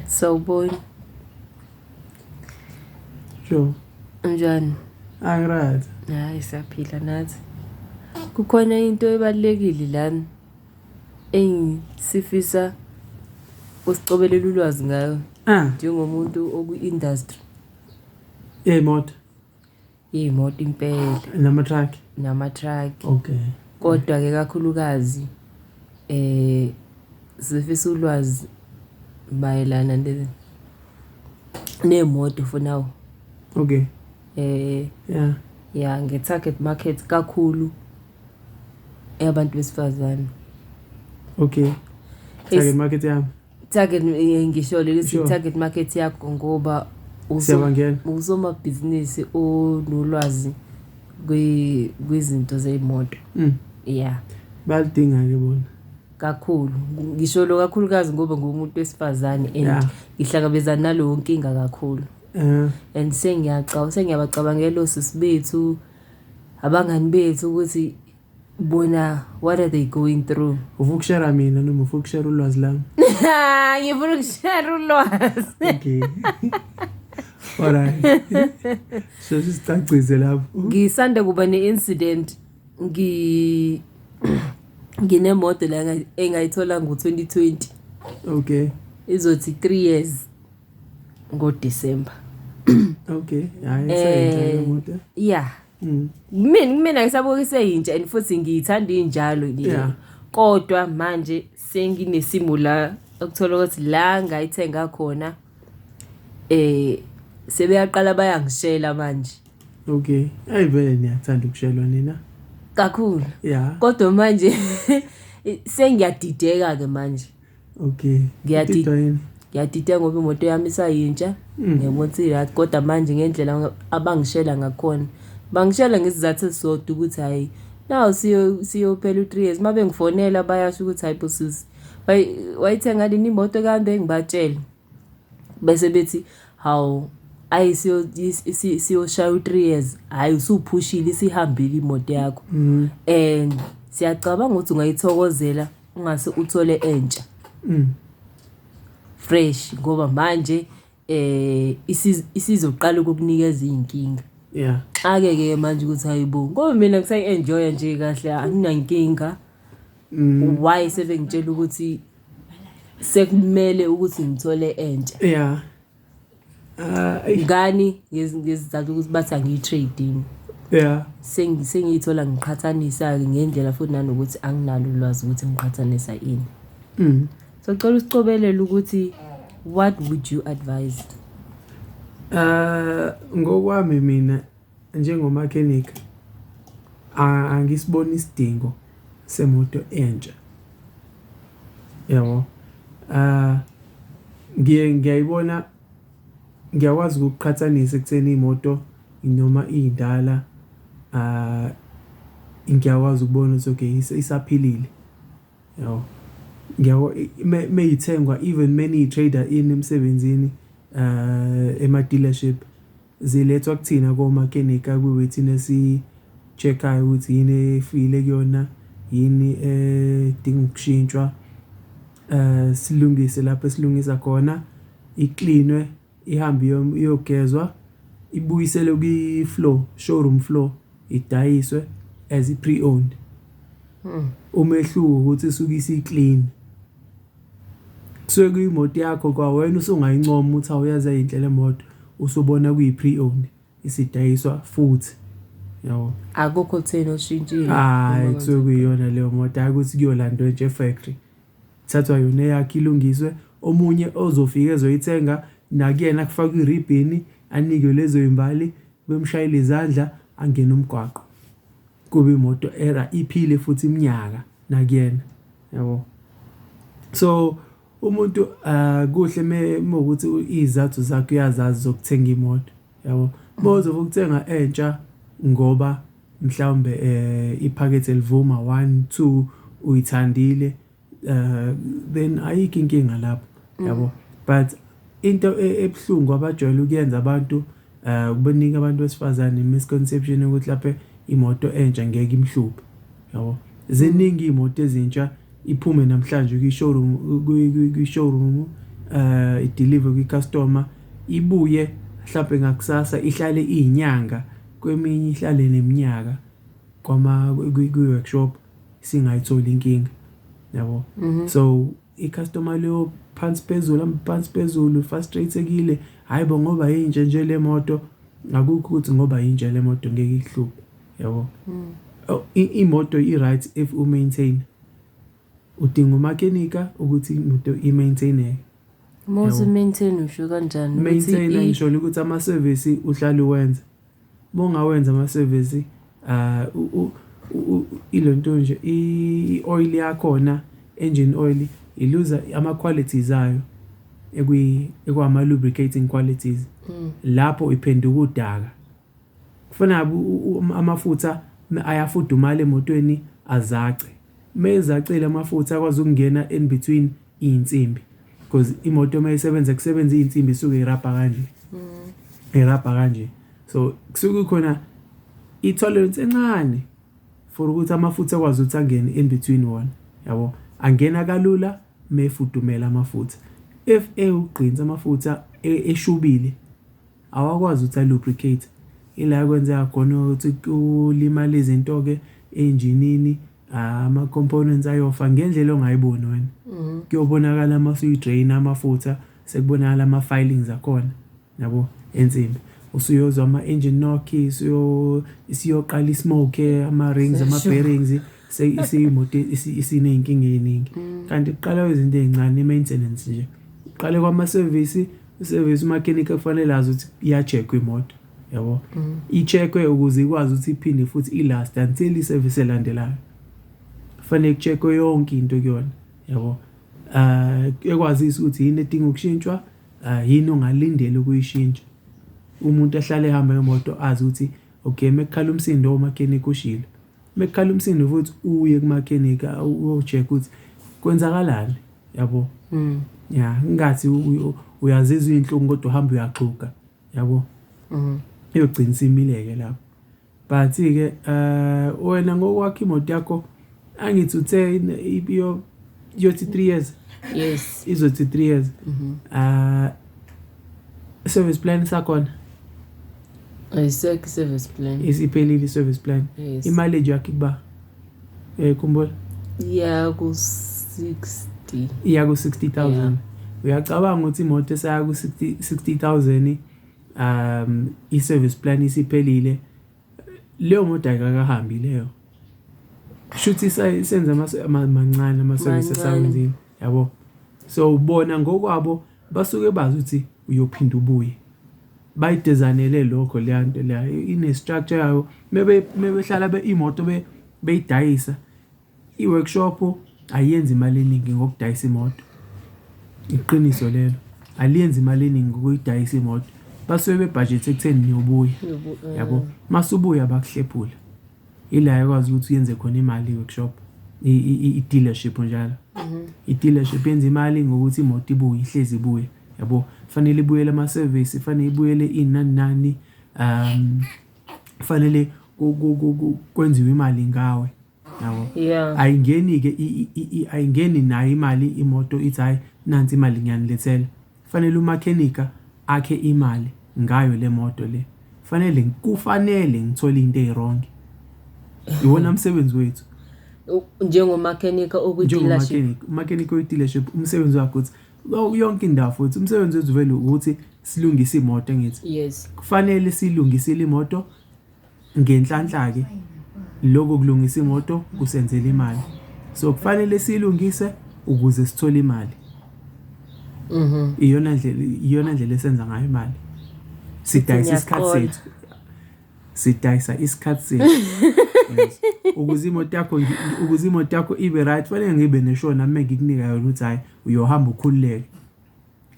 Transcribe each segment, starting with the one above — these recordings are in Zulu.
Sawubona. Sho. Unjani? Angirazi. Hayi siyaphila nathi. Kukhona into ebalekile lana engisifisa usicobelela ulwazi ngayo. Ah. Njengomuntu oku-industry. Yemoto. iy'moto impela Namatruck. namatraki Okay. kodwa-ke kakhulukazi eh sifisa ulwazi mayelana ne- ney'moto for now Okay. eh Yeah. ya nge-target market kakhulu eyabantu besifazane Okay. Target market yami. target eh, ngisho leli Sure. target market yakho ngoba uzo- Siyabangena. usomabhizinisi onolwazi kwi- kwizinto zey'moto Mm. ya Bayalidinga-ke bona. kakhulu ngisho lo kakhulukazi ngoba ngumuntu wesifazane and Yeah. ngihlangabezana naleyo nkinga kakhulu Eh, and sengiyaca- sengiyabacabangela osisi bethu abangani bethu ukuthi Bona, what are they going through? Ufuna ukushare mina noma ufuna ukushare ulwazi lami? Ngifuna ukushare ulwazi. Okay. Alright. So sisicacise lapho. Ngisanda kuba ne-incident ngi nginemoto la engayithola ngo-2020. Okay. Izothi 3 years ngo-December. Okay. Hayi, yeah. Eh, yeah. mm. mina kumina ngisabuke seyintsha and futhi ngiyithanda injalo nje yeah. kodwa manje senginesimo la okuthola ukuthi la ngayithenga khona eh sebeyaqala bayangishela manje okay ayi vele niyathanda ukushelwa nina kakhulu yeah kodwa manje sengiyadideka ke manje okay ngiyadida ngoba imoto yami isayintsha mm. ngiyabona siyirathi kodwa manje ngendlela abangishela ngakhona bangishela ngesizathu esisodwa ukuthi hhayi naw siyophela u-three years uma bengifonela bayasho ukuthi hhayi bosisi wayithenga lini imoto kande ngibatshele bese bethi hawu ayi siyoshaya u-three years hhayi usuphushile isihambile imoto yakho mm. and siyacabanga ukuthi ungayithokozela ungase uthole entsha mm. fresh ngoba manje eh isizoqala ukukunikeza izinkinga yeah xake ke manje ukuthi hayibo ngoba mina ngisayi enjoy nje kahle anginankinga mm. why sebengitshela ukuthi sekumele ukuthi ngithole entsha yeah Ah, eish. ngani ngezi- ngezizathu ukuthi bathi angiyi-trading yeah Sengi- sengiyithola ngiqhathanisa-ke ngendlela futhi nanokuthi anginalo ulwazi ukuthi ngiqhathanisa ini mm. so cela usicobelele ukuthi what would you advise uh, ngokwami mina Njengomakhenikha angisiboni isidingo semoto entsha, yabo. Ngiye ngiyayibona, ngiyakwazi ukuqhathanisa ekutheni imoto noma indala ngiyakwazi ukubona ukuthi okay isaphilile, yabo. Ngiyabo uma ithengwa even uma niyi-trader ini emsebenzini ema-dealership. Zilethwa kuthina komakenika kwiwethini esi-check-ayo ukuthi yini efile kuyona, yini edinga ukushintshwa, silungise lapho esilungisa khona, iklinwe, ihambe iyogezwa, ibuyiselwe kwi-floor, showroom floor, idayiswe as i-pre-owned. Umehluko ukuthi isuke isi-clean. Kusuke kuyimoto yakho kwawena usungayincoma ukuthi awu yaze yayinhle le moto, usubona kuyi-pre-owned isidayiswa futhi, yabo. Akukho okutheni oshintshile. Hhayi, kusuke kuyiyona leyo moto, hhayi ukuthi kuyolandwa nje e-factory. Kuthathwa yona eyakho ilungiswe, omunye ozofika ezoyithenga nakuyena kufakwe iribhini, anikwe lezo zimbali, bemshayele izandla, angene umgwaqo. Kube imoto iphile futhi iminyaka nakuyena. yabo so umuntu uh, kuhle mewukuthi izathu zakhe uyazazi zokuthenga imoto yabo bozoba ukuthenga entsha ngoba mhlawumbe eh iphakethe livuma 1 2 uyithandile eh then ayikho inkinga lapho yabo but into e, ebhlungu abajwayele ukuyenza abantu ukubaningi abantu besifazane misconception ukuthi lapha imoto entsha ngeke imhluphe yabo ziningi imoto ezintsha iphume namhlanje kwi-showroom kwi-showroom eh ideliver kwi-customer ibuye mhlawumbe ngakusasa ihlale izinyanga kweminye ihlale neminyaka kwama kwi-workshop singayitholi inkinga yabo mhm. so icustomer leyo phansi phezulu hamba phansi phezulu frustratekile hayi bo ngoba yintsha nje le moto akukho ukuthi ngoba yintsha le moto ngeke ikuhluphe yabo mm. oh, imoto i-right if u-maintain udinga umakenika ukuthi imoto i-maintaineke mose maintain usho kanjani maintain ngisholo ukuthi ama-service uhlale uwenza Mongawenza amasevisi ilento nje i-oil yakhona engine oil iluza ama-qualities ayo ekwama-lubricating qualities lapho iphenduka udaka. Kufana amafutha ayafudumala emotweni azace, mezacile amafutha akwazi ukungena in between. Iy'nsimbi coz imoto uma isebenza kusebenza iy'nsimbi isuke irabha kanje, irabha kanje. So kusuke kukhona i-tolerance encane for ukuthi amafutha akwazi ukuthi angene in between wona, yabo? Angena kalula uma efudumele amafutha. If ewugqinsi amafutha eshubile, awakwazi ukuthi a-lubricate. Ila ekwenzeka khona ukuthi kulimale izinto-ke enjinini. Ah, ama components ayofa ngendlela ongayiboni wena. Mhm. Kuyobonakala uma usuyidrain amafutha sekubonakala ama filings akhona. Yabo ensimbi. Usuyozwa ama engine knock isiyo isiyoqala ismoke ama rings ama bearings seyimoto isineyinkinga eziningi. Mm. Kanti kuqala izinto ezincane maintenance nje. Uqale kwama service, service mechanic kufanele azi ukuthi iya check imoto. yabo mm. i-check-we ukuze ikwazi ukuthi iphinde futhi i-last until i-service elandelayo kufanele ku-check-we yonke into kuyona yabo um ekwazisa ukuthi yini edinga ukushintshwa um yini ongalindele ukuyishintsha umuntu ahlale ehamba ngemoto azi ukuthi okay uma kukhala umsindo umakhenikha ushilo uma kukhala umsindo futhi uye kumakhenikha uyo-check ukuthi kwenzakalani yabo mm. ya ngathi uyazizwa iy'nhlungu kodwa uhamba uyaxhuga yabo mhm iyogcina simileke lapho but ke eh wena ngokwakhe imoto yakho angithi uthe ibiyo yothi 3 years yes izothi 3 years mhm ah service plan sakhona ayisekho service plan isiphelile service plan yes. imali yakhe kuba eh kumbuye iya ku 60 iya ku 60000 uyacabanga ukuthi imoto esaya ku 60 60000 um i service plan isiphelile leyo moto ayikahambi leyo shuthi senza mancane ama service esawenzile yabo so ubona ngokwabo Basuke bazi ukuthi uyophinde ubuye. Bayidizayinele lokho leya nto leya, ine-structure yayo. Uma uma behlala imoto beyidayisa, i-workshop ayenzi imali eningi ngokudayisa imoto. Iqiniso lelo, aliyenzi imali eningi ngokuyidayisa imoto. Basuke bebhajethe ekutheni niyobuya, yabo? Uma usubuya bakuhlephule. Ila ekwazi ukuthi uyenze khona imali i-workshop i-dealership njalo mhm. i-dealership yenza imali ngokuthi imoto ibuye ihlezi ibuye yabo fanele ibuyele ama-service fanele ibuyele inani nani um fanele kwenziwe imali ngawe yabo ayingeni-ke ayingeni nayo imali imoto ithi hhayi nansi imali ngiyanilethela Kufanele umakhenika akhe imali ngayo le moto le. Kufanele kufanele ngithole into eyirongi. Iwona msebenzi wethu. Njengomakhenika okwi-dealership. Umakhenika oyi-dealership umsebenzi wakhe ukuthi yonke indawo futhi umsebenzi wethu vele ukuthi silungise imoto ngithi. Yes. Kufanele silungisile imoto Ngenhlanhla-ke lokhu kulungisa imoto kusenzela imali. So kufanele siyilungise ukuze sithole imali. Mhm. Iyona ndlela iyona ndlela esenza ngayo imali. Sidayisa isikhathi sethu. Sidayisa isikhathi sethu. Ukuze imoto yakho ukuze imoto yakho ibe right, kufanele ngibe neshona mina ngikunika yona ukuthi hayi uyohamba ukhululeke.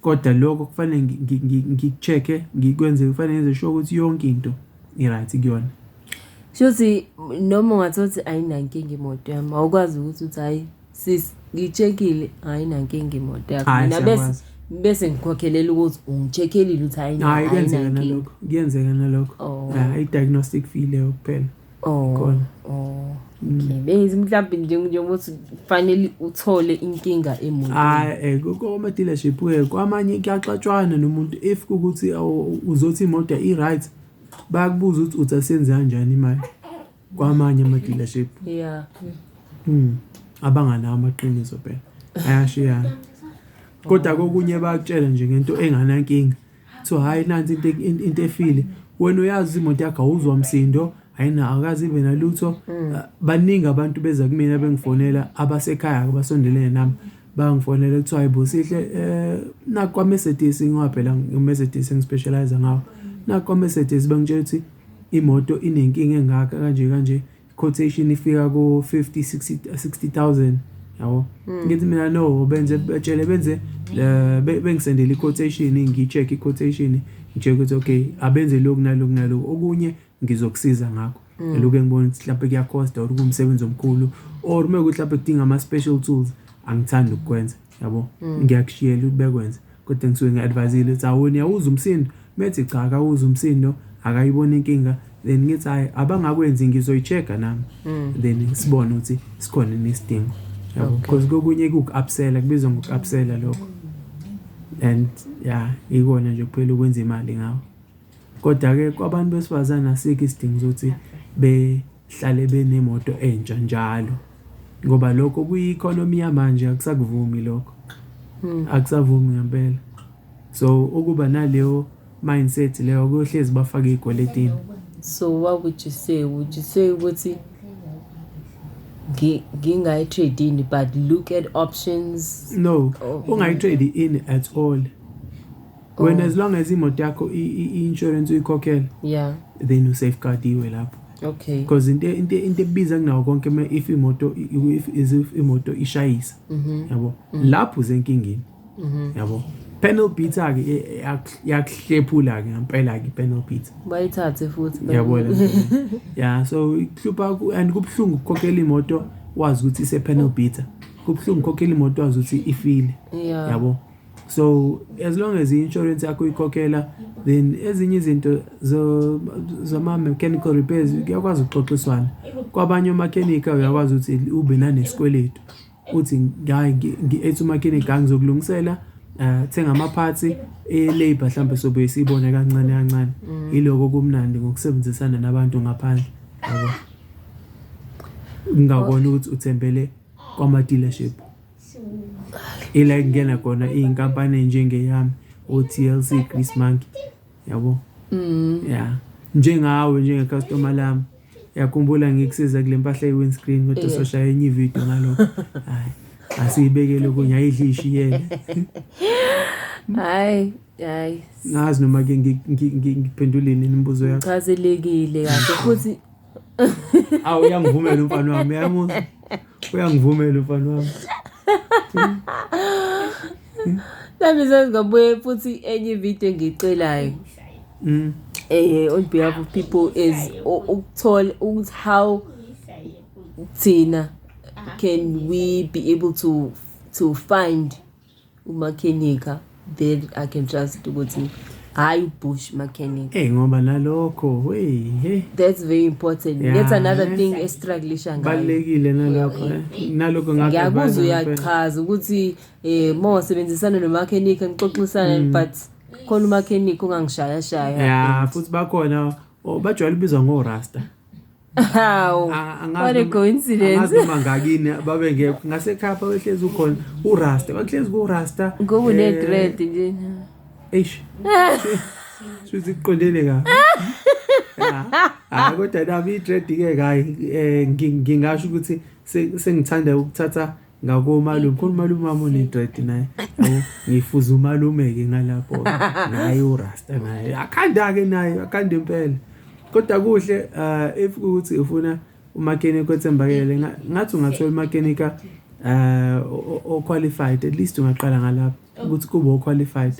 Kodwa lokho kufanele ngiku-check-e ngikwenze kufanele ngenze sure ukuthi yonke into i-right kuyona. Shuthi noma ungathola ukuthi ayinankinga imoto yami awukwazi ukuthi uthi hhayi sis ngi-check-ile ayinankinga imoto yakho. Hhayi Mina bese siyakwazi. bese ngikhokhelela ukuthi ungi-check-elile ukuthi Hhayi ayina kuyenzeka ayinankinga. nalokho kuyenzeka nalokho. Oh. Ah, i-diagnostic fee leyo kuphela. Oh. Gone. Oh. Okay. Bengithi mhlawumbe nje njengoba uthi kufanele uthole inkinga emotweni. Hayi eh, ku- kwama dealership ke kwamanye kuyaxatshwana nomuntu if kukuthi awu- uzothi imoto i right bayakubuza ukuthi uthi asenze kanjani imali kwamanye ama dealership Yeah. mm. abanganawo amaqiniso phela ayashiyana kodwa kokunye bakutshela nje ngento enganankinga so hhayi nansi into into into efile wena uyazi imoto yakho awuzwa msindo ayina akazi ibe nalutho mm. ah, baningi abantu beza kumina bengifonela abasekhaya abasondelene nami bangifonela kuthiwa hayibo sihle eh nakwa Mercedes ngoba phela ngiMercedes ngispecialize ngawo nakwa Mercedes bangitshela ukuthi imoto inenkinga engaka kanje kanje quotation ifika ku 50 60 60000 yabo hmm. ngithi mina no benze betshele benze eh, bengisendele iquotation ngicheck iquotation nje ukuthi okay abenze lokhu nalokhu nalokhu okunye ngizokusiza ngakho hmm. eluke ngibona ukuthi mhlawumbe kuyacosta or kumsebenzi omkhulu or uma ukuthi mhlawumbe kudinga ama-special tools angithandi ukukwenza yabo mm. ngiyakushiyela ukubekwenza kodwa ngisuke ngi-advayizile ukuthi awoni yawuza umsindo methi cha akawuza umsindo akayibona inkinga then ngithi hayi abangakwenzi ngizoyi-check-a nami mm. then sibone ukuthi sikhona nesidingo yabo because kokunye kuku-upsela kubizwa ngoku-upsela lokho and ya ikona nje kuphela ukwenza imali ngawo kodwa-ke kwabantu besifazane asikho isidingo sokuthi be Hlale benemoto entsha njalo ngoba lokho kuyi-economy yamanje akusakuvumi lokho hmm. akusavumi ngempela so ukuba naleyo mindset leyo kuyohlezi bafake iy'kweletini so what would you say would you say ukuthi ngingayi-trade in but look at options no oh, ungayi-trade in at all Oh. wena as long as imoto yakho i- i- i-insurance uyikhokhela yeah then usafeguardiwe lapho okay because into into into ebiza kunawo konke uma if imoto i- i- if is if imoto ishayisa Mhm. yabo lapho usenkingeni yabo panel beater ke e- e- yak- yakuhlephula ke ngempela ke panel beater bayithathe futhi yabona ya so ihlupha ku- and kubuhlungu ukukhokhela imoto wazi ukuthi ise panel beater kubuhlungu ukukhokhela imoto wazi ukuthi ifile yeah yabo so as long as i-insurance yakho ikhokhela then ezinye izinto zama-mechanical repairs kuyakwazi ukuxoxiswana kwabanye omakhenika uyakwazi ukuthi ube nanesikweletu uthi ngi-ethi umakhenika angizokulungisela um eh, thenga amaphathi e-labour mhlawumbe sobe siyibone kancane kancane mm. yiloko kumnandi ngokusebenzisana nabantu ngaphandle yabo ngingakona ukuthi uthembele kwama-dealership ila kungena khona iy'nkampani ey'njengeyami o-tlc grease monkey yabo mm. ya njengawe njengecustoma lami yakhumbula ngikusiza kule mpahla ye-windscreen kodwa soshaya enye ividiyo ngalokho hayi asiyibekele okunye ayidle ishiyele hayi hayi ngazi noma ke ngiphenduleni imibuzo yakho chazelekile kahle futhi awu uyangivumela umfana wami uyamuzwa uyangivumela umfana wami nami sengingabuye futhi enye ividiyo engiyicelayo mm. eh on behalf of people is ukuthola ukuthi how thina can we be able to to find umakhenika then i can trust ukuthi hhayi ubush mechanic hey ngoba nalokho hey hey that's very important yeah. that's another thing estruglisha ngayobalulekile nalokho eh. eh, nalokho ngiyakuzwa uyachaza ukuthi eh uma wasebenzisana nomakhenika nixoxisana mm. but khona umakhenika ongangishayashaya ya futhi bakhona oh, bajwayele ubizwa ngorasta Hawu. What a coincidence. Angazi noma ngakini babe ngekho. Ngasekhaya babehlezi ukhona uRasta. Bahlezi kuRasta. Ngoba une eh, dread nje. Eish. Suthi kuqondene ka. Hayi kodwa nami i-dread ke kayi eh, ngingasho ukuthi sengithanda ukuthatha ngako umalume khona umalume wami onedread naye ngifuza umalume-ke ngalapho naye urasta naye akhanda-ke naye akhanda impela kodwa kuhle um if ukuthi ufuna umakenika othembakele ngathi ungathola umakenika um o-qualified at least ungaqala ngalapho ukuthi kube o-qualified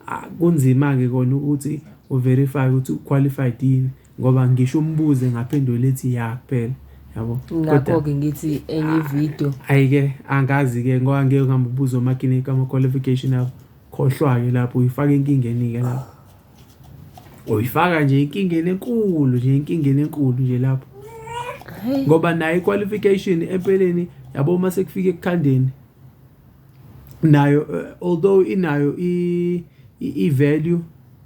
ah, kunzima-ke kona ukuthi uverifye ukuthi u-qualified yini Ngoba ngisho umbuzo engaphendula ethi ya kuphela. Yabo. Ngakho ke ngithi enye ivideo. Hayi ke angazi ke ngoba ngeke ngihamba ubuza omakini kama qualification abo. Khohlwa ke lapho uyifaka enkingeni ke lapho. Uyifaka nje inkingeni enkulu nje inkingeni enkulu nje lapho. Ngoba nayo iqualification empeleni yabo uma sekufika ekukhandeni nayo uh, although inayo i i value uh,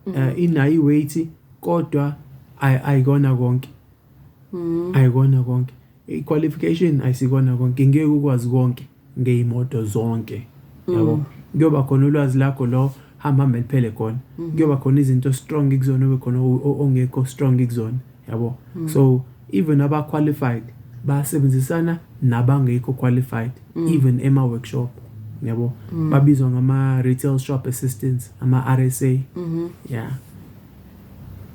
mm -hmm. inayo iweight kodwa ayikona konke mm. ayikona konke iqualification ayisikona konke ngeke ukwazi konke ngeyimoto zonke yabo mm. kuyoba khona ulwazi lakho lo hamba hamba liphele khona mm-hmm. kuyoba khona izinto strong kuzona ube khona ongekho strong kuzona yabo mm. so even aba qualified basebenzisana nabangekho qualified mm. even ema workshop yabo mm. babizwa ngama retail shop assistants ama RSA mm -hmm. yeah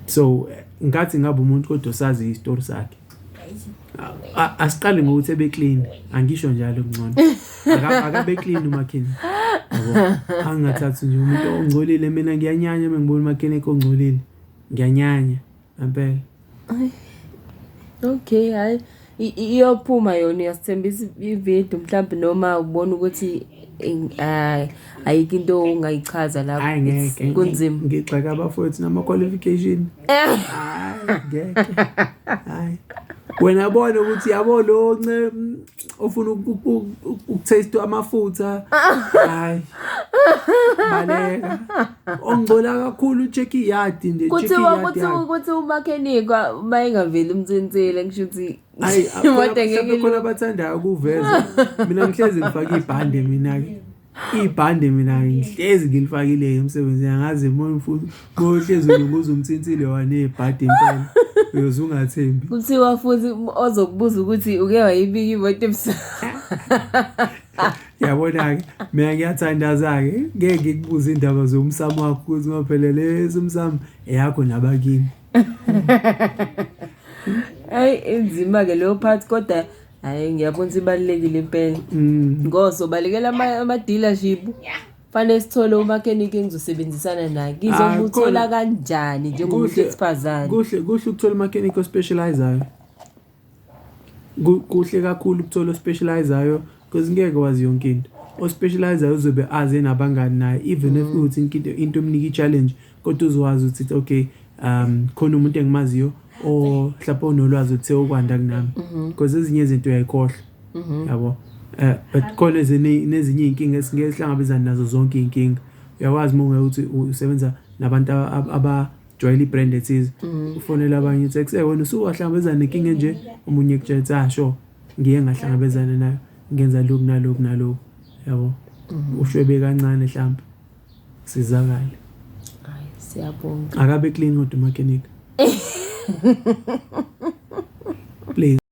so ngathi ngabe umuntu kodwa sazi istory sakhe asiqali ngokuthi ebe clean angisho njalo ngcono akabe clean umakhini angathathi nje umuntu ongcolile mina ngiyanyanya uma ngibona umakhini ekongcolile ngiyanyanya abeg Ay. Okay, hayi I- i- iyophuma yona uyasithembisa ivideo mhlawumbe noma ubona ukuthi in- ah, ayikho into ongayichaza lapho. hayi It's ngeke kunzima. ngigxeka abafowethu nama-qualification Eh, hayi ngeke hayi wena bona ukuthi yabo lo nce- ofuna ukuthaste amafutha hayi baleka ongcola kakhulu check iyard nje kuthiwa kuthiwa ukuthi umakhenikwa uma engaveli umthinthile ngisho ukuthi hayi kodwa ngeke khona abathandayo kuveza mina ngihlezi ngifake ibhande mina ke ibhande mina ngihlezi ngilifakile emsebenzini angazi moya mfuthi kohlezi unokuza umthinthile wanebhadi impela uyoze ungathembi kuthiwa futhi ozokubuza ukuthi uke wayibika imoto ebusuku yabona-ke mina ngiyathandaza-ke ngeke ngikubuze iy'ndaba zomsamo wakho ukuthi ngophele lesi umsamo eyakho nabakini ayi inzima-ke leyo phathi kodwa hayi ngiyabona ukuthi ibalulekile impela mm. ngoso balekela ama-dealership fanele sithole umakhenikhe engizosebenzisana naye ah, ngizomuthola kanjani njengomuntu wesifazane kuhle kuhle ukuthola umakhenikhe ospecializayo kuhle kakhulu ukuthola ospecializayo because ngeke wazi yonke into ospecializayo uzobe aze nabangani naye even if mm. kuwuthi into omnika i-challenge Kodwa uzowazi ukuthi okay um khona umuntu engimaziyo o mhlawumbe onolwazi ukuthi seyokwanda kunami mhm. because ezinye izinto uyayikhohlwa mhm. yabo eh but khona nezinye izinkinga esingeke sihlangabezane nazo zonke izinkinga uyakwazi uma ungeke ukuthi usebenza nabantu aba joyela ibrand ethize mhm. ufonela abanye uthi ekusey wena usuwahlangabezana nenkinga enje omunye kutshela ukuthi ah sure ngiye ngahlangabezana nayo ngenza lokhu nalokhu nalokhu yabo ushwebe kancane mhlawumbe sizakale hayi siyabonga akabe clean kodwa umakhenika please